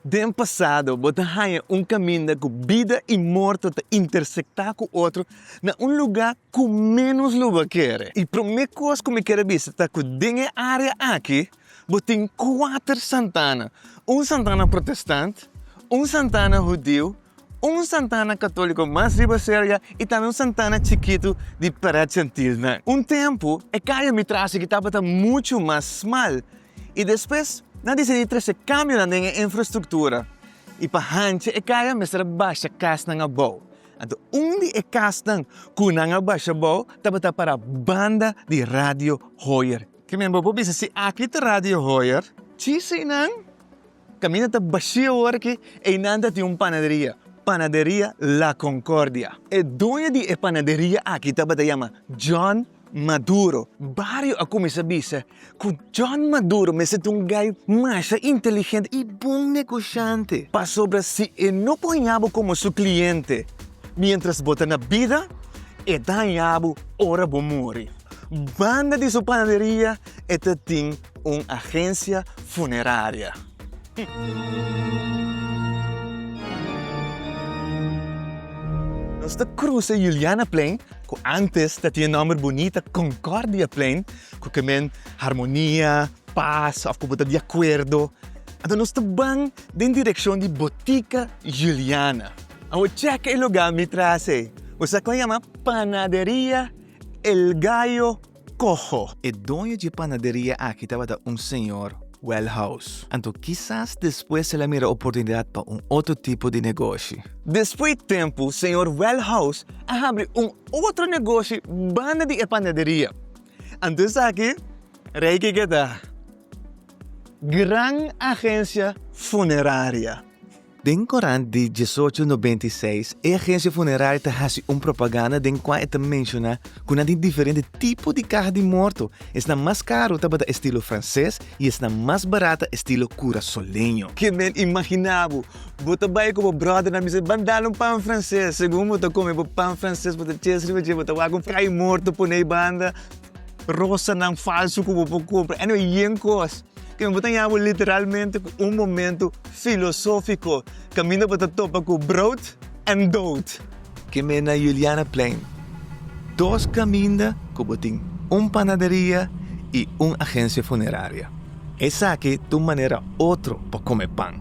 Den pasado, bo ta haña un kaminda ku bida i morto ta intersektá ku otro na un lugá ku ménos lo bo kere. E promé kos ku mi ker a bisa ta ku den e área aki bo tin kuater Santana, un Santana protestant, un Santana hudiu, un Santana katóliko mas riba serka i tambe un Santana chikitu di Parèt Jantilnan. Un tempu, e kaya mi trase ki tabata muchu mas smal i despues nan a disidí trese kambionan den e infrastruktura i pa hanchi e kaya a mester a basha kasnan abou. Anto un di e kasnan ku nan a basha abou tabata para banda di Radio Hoyer. Ke men bo por bisa si aki ta Radio Hoyer? Sí, su einan kaminda ta bashí awor aki, einan ta tin un panaderia, Panaderia La Concordia. E doño di e panaderia aki tabata yama John Maduro. Bario a cuminsa bisa cu John Maduro mester ta un guy masha inteligente y bon negociante pasobra si e no por hañabo como su cliente mientras bo ta na bida, e ta hañabo ora bo muri. Banda di su panaderia e ta tin un agencia funeraria. Nos ta cruza Julianaplein ku ántes ta tin e nòmber bunita Concordiaplein, ku ke men harmonia, pas òf ku bo ta di akuerdo. Anto nos ta ban den direkshon di Botica Juliana. Awor chèk e lugá mi tras ei. Bo sa kon yama Panaderia El Gallo Coho, E doño dje panaderia aki tabata un señor Welhouse. Anto kisas despues el a mira oportunidad pa un otro tipo di negoshi. Despues tempu señor Welhouse a habri un otro negoshi banda di e panaderia. Anto esaki rei ke keda gran agencia funeraria. Den korant di diesocho nobenta i seis, e agensia funeraria ta hasi un propaganda den kua e ta menshoná ku nan tin diferente tipo di kaha di morto, esnan mas karu tabata estilo franses i esnan mas barata estilo kurasoleño. Ke men imaginá bo? Bo ta bai ku bo bròder, nan bisa, Ban dal un pan franses. Segun bo ta kome bo pan franses, bo ta txes riba dje, bo ta wak un kai morto poné banda. Rosanan falsu ku bo por kumpra. Anyway, yen kos ku mi bo ta yawe literalmente ku un momentu filosófiko. Kaminda bo ta topa ku brood en dood. Keme na Julianaplein, dos kaminda ku bo tin un panaderia i un agensia funeraria. Esaki ta un manera otro pa kome pan.